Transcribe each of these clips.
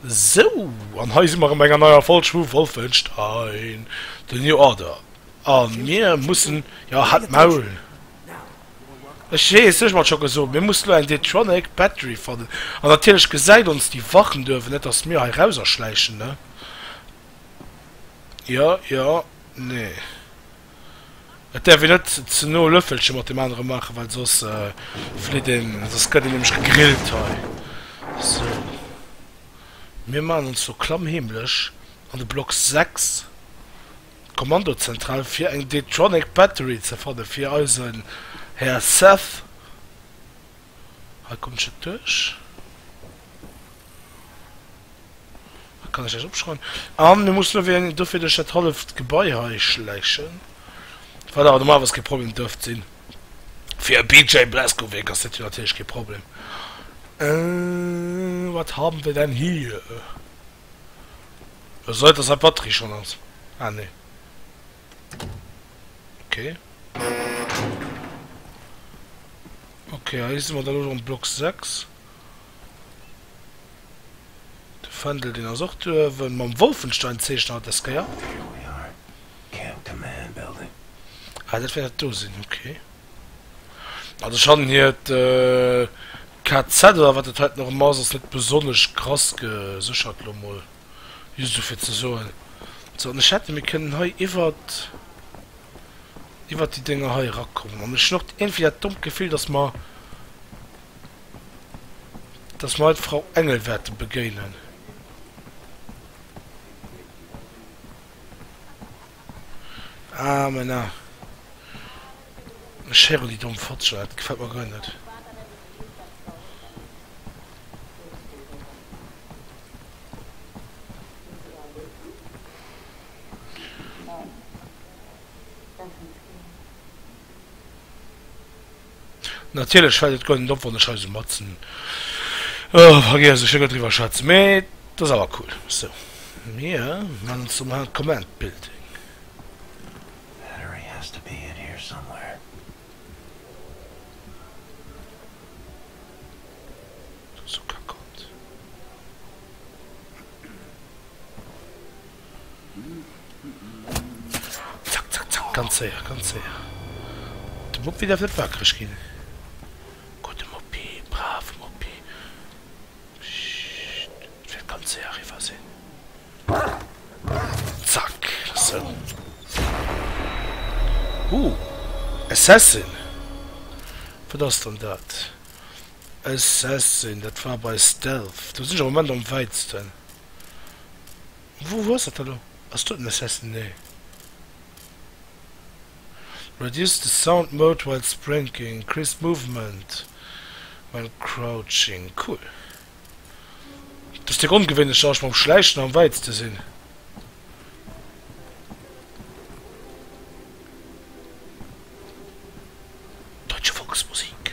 Sou, an hei si mer erëm eng an neier Folg vu Wolfenstein, The New Order. A mir mussen, jo, halt d'Maul! Ech weess, ech hunn et scho gesot, mir mussen elo eng D-Tronic Battery fannen. An natierlech gesäit ons déi Wachen duerwen net, datt mir hei rauserschläichen, ne? Jo, jo, nee. Et däerf een net ze no Löffelche mat deem anere maachen, well soss flitt een, soss gëtt een nämlech gegrillt hei. Sou, mir maachen ons lo klammheemlech an de Block 6, d'Kommandozentral, fir eng D-Tronic Battery ze fannen fir eisen Här Seth. Hei kommt ech net duerch. Kann ech dat opschreiwen? An du muss lo wéi dofir duerch dat halleft Gebai hei schläichen. Wat awer normalerweis kee Problem dërft sinn. Fir e BJ Blazkowicz ass dat jo natierlech kee Problem. Äh, wat haben wir denn hier? Es sei dass hei Batterie schon ass. Ah nee. Okay. Okay, hei si mer dann elo am Block 6. De Fändel, deen ass och do uewen. Mam Wolfenstein zeechnen hatt des Kéier. Here we are, Camp Command Building. Ah, dat wäert et do sinn, ok. Ah, de Shan hiert KZ oder wat dat hei dann och ëmmer ass, ass net besonnesch krass geséchert, lo mol just esou fir ze soen. Sou, an ech hätte mir kënnen hei iwwert, iwwert déi Dénger hei erakommen. An ech hunn och iergendwéi dat dommt Gefill, datt mer. dass mer haut d'Frau Engel wäerte begéinen. Ah, Männer, ech héieren déi domm Fotzger, dat gefält mer guer net. Natierlech fält et guer net op wann ech hei sou matzen vergiess ech iergendwéi wa schwätzen, mee dat ass awer cool. Sou, mir man ons do mol an d'Comment Building. Battery has to be in here somewhere. Sou kack Kont. Zack, zack, zack, ganz séier, ganz séier. De Moppi däerf net wakereg ginn. Gudde Moppi, brave Moppi. Pssst, et wäert ganz séier eriwwer sinn. Zack, sou. Huh, Assassin! Wat ass dann dat? Assassin, dat war bei Stealth. Do sinn ech am Moment am wäitsten. Wou ass dat elo? Ass do den Assassin? Nee. Reduce the sound mode while sprinking, increase movement when crouching, cool. Dass dee ongewéinlech Geräusch mam Schläichen am wäitste sinn. Deutsche Volksmusik.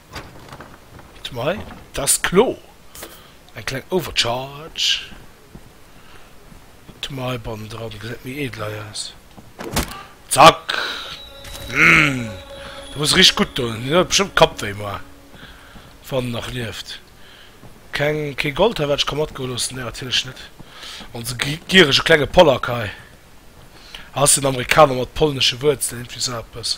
Smile Dat ass kloer eng kleng Overcharge. Smile Bannendran gesäit méi edel hei aus. Zack Humm do muss richteg gutt doen, deen huet bestëmmt Kappwéi. Ma wann en nach lieft. Keng kee Gold hei wat ech ka matgoe loossen? Nee natierlech net. Onse gierege klenge Polack hei. Ass en Amerikaner mat polnesche Wuerzelen? Iergendwéi sou eppes.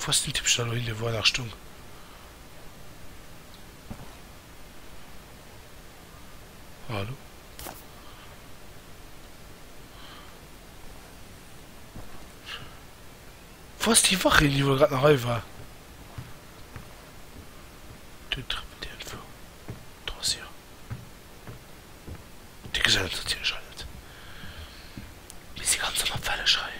Wou's den Tippständer lo hingeleet, wou en nach stung. Hallo? Wou's déi Wach hin, déi wuel grad nach hei war? Dun trëppelt déi entwou dra, si. Déi gesellen eis natierlech hei net, mee si ganz an der Wellesch hei.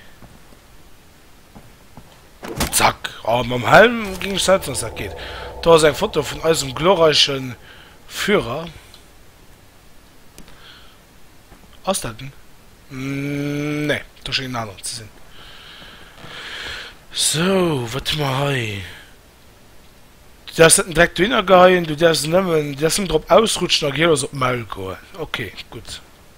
Zack! Oh mam Helm ging ech setzen dass dat geet. Do ass eng Foto vun eisem glorreichen Führer. Ass dat en? Nee, do schéngt en aneren ze sin. Sou, wat hu mer hei? Du därfs net direkt dohinner geheien, du därfs nemmen drop ausrutschen a gehirlos op d'Maul goen. Ok, gudd.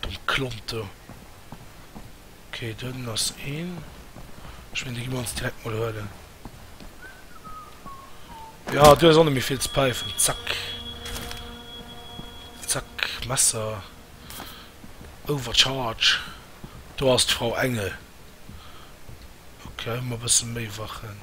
Domm Klont do. Ok dunn ass een. Ech mengen déi gi mer ons direkt mol huelen. Jo du hues och net méi vill ze päifen. Zack. Zack Messer. Overcharge. Do ass d'Frau Engel. Ok hu mer e bësse méi Wachen.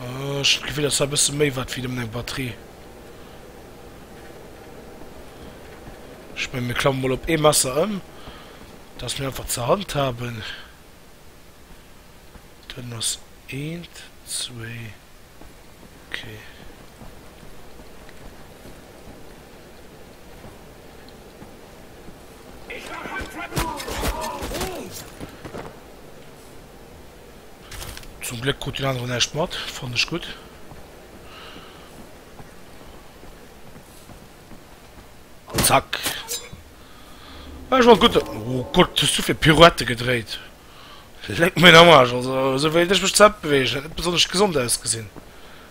Ah, ech hat d'Gefill, dass dat e bësse méi wat wéi nëmmen eng Batterie. Ech mengen, mir klammen mol op ee Messer ëm, dass mir einfach ze handhaben. Dann ass eent, zwéi. Okay. Zum Gléck krut den aneren näischt mat, fannen ech gutt. Zack. Ech wollt gutt. Oh Gott, hues du fir Pirouette gedréit? Léck mir am Arsch, also esou wéi ech mech d'Zäit beweegen, huet net besonnesch gesond ausgesinn.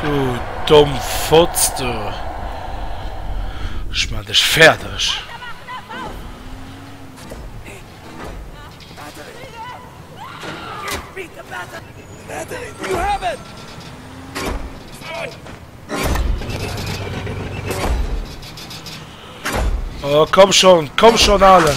Du domm Fotz du, ech man dech färdeg! Oh komm schon, komm schon Allen!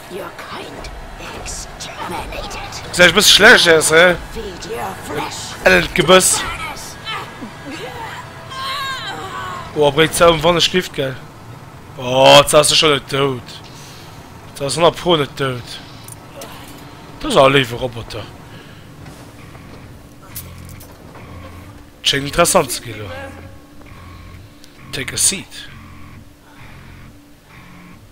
Your kind exterminated. Seit ech bësse schlecht aus, hä? Feed your flesh to the Elend Gebëss. cannibals. Oha, bréit se ëm wann ech lift, gell? Oh, jetzt ass se scho net dout. Jetzt ass se honnert pro net dout. Dat ass awer e léiwe Roboter. Et schéngt interessant ze ginn elo. Take a seat.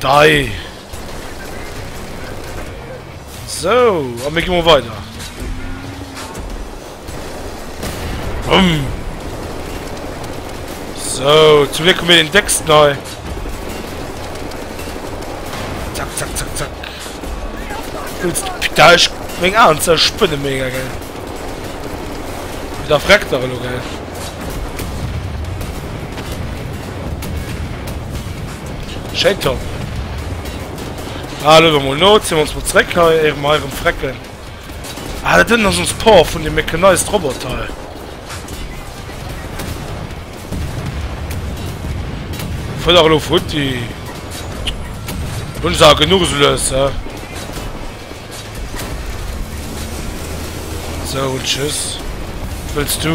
Dei! Sou, a mir gi mol weider. Wumm! Sou, zum Glück hu mir den décksten hei. Zack, zack, zack, zack. Jetzt, da ich meng Aen ze spinne mega geil. Da freckt er lo geil. Schéin top! Ah, luewe mol no, zi mer ons mol zeréck hei, éiere mer hei erëm frecken. Ah, dat ënnen ass ons Port vun dem Mechanized Robot hei. Fëll elo futti. Hunn se a genuch esou lues, he? So, tschüss. Wëlls du?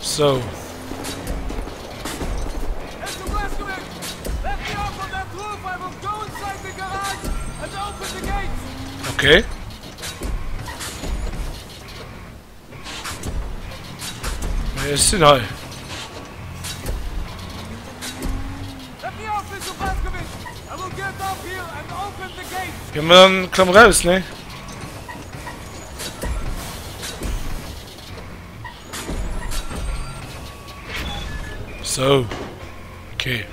So. Okay. Ech sinn hei. Ge man klamm raus ne. Sou, okay.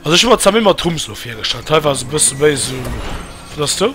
Also ech war zwar immer Trumps lo virgestallt, hei war se bësse méi so... Was hast du?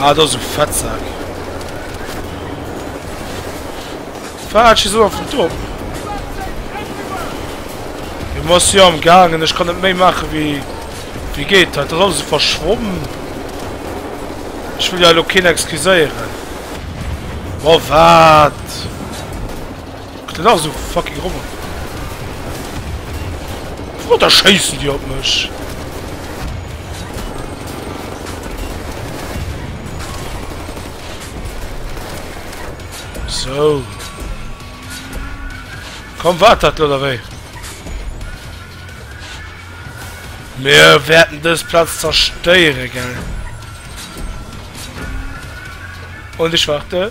Ah, dat ass e Fettsak. Fatsch, is awer vun top. Du muss jo am gangen, ech kann net méi mache wie wie geht dat dat alles verschwommen. Ech will ja lo keen excuséieren. Wa wat? Kritt en nach esou fucking Roboter? Wou da schéissen déi op mech? Sou. Komm wat dat lo wéi. Mir werden dës Platz zerstéiere gell. Und ich warte.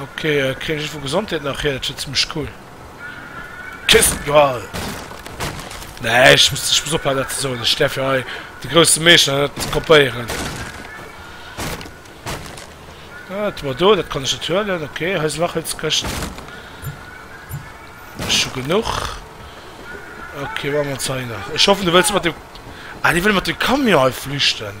Ok kréien ech vu Gesondheet nach hir, dat wier zimlech cool. Kissen Dual! Nee ech muss ech muss ophalen dat ze soen, ech däerf jo hei de grousse Meeschter net kopéieren. Ah dat war do, dat kann ech net huelen, ok hei sinn nach Hëlzkëschten. Ech hu genuch. Ok maache mer ons hei nach, ech hoffen du wëlls mat dem, ah déi wëlle mat dem Camion hei flüchten.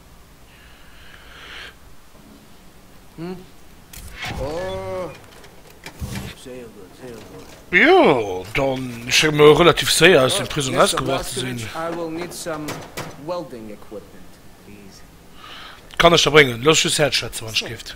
Jo, dann schéngt mer relativ séier aus dem Prisong ausgebrach ze sinn. Kann ech der bréngen? Looss just herschwätzen, wann ech géif.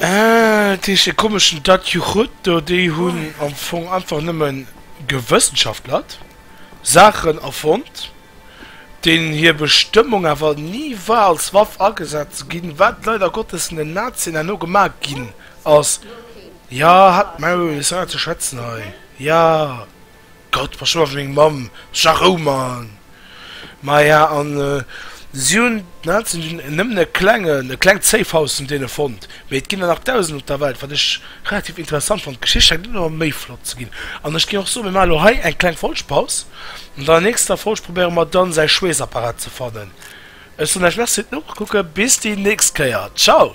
Ah, dees de komeschen Datjuchut do? Déi hunn am Fong einfach nëmme gewëssenschaftlert, Saachen erfonnt, deenen hir Bestëmmung awer ni war als Waff agesat ze ginn, wat leider Gottes vun den Nazien herno gemaach ginn ass. Jo, halt d'Maul, hues awer ze schwätzen hei. Jo. Gott, pass op meng Mamm, scha Rou man! Maja an si hunn d'Nazien hunn nëmmen e klengen, e klengt Safehouse vun deene fonnt, mee et ginn der nach dausend op der Welt, wat ech relativ interessant fonnt. D'Geschicht schengt net ëmmer méi flott ze ginn, an ech géing och soen, mir maachen elo hei eng kleng Folgpaus, an an der nächster Folg probéiere mer dann säi Schweessapparat ze fannen. Ech soen Iech Merci fir d'Nokucke, bis déi nächst Kéier, ciao!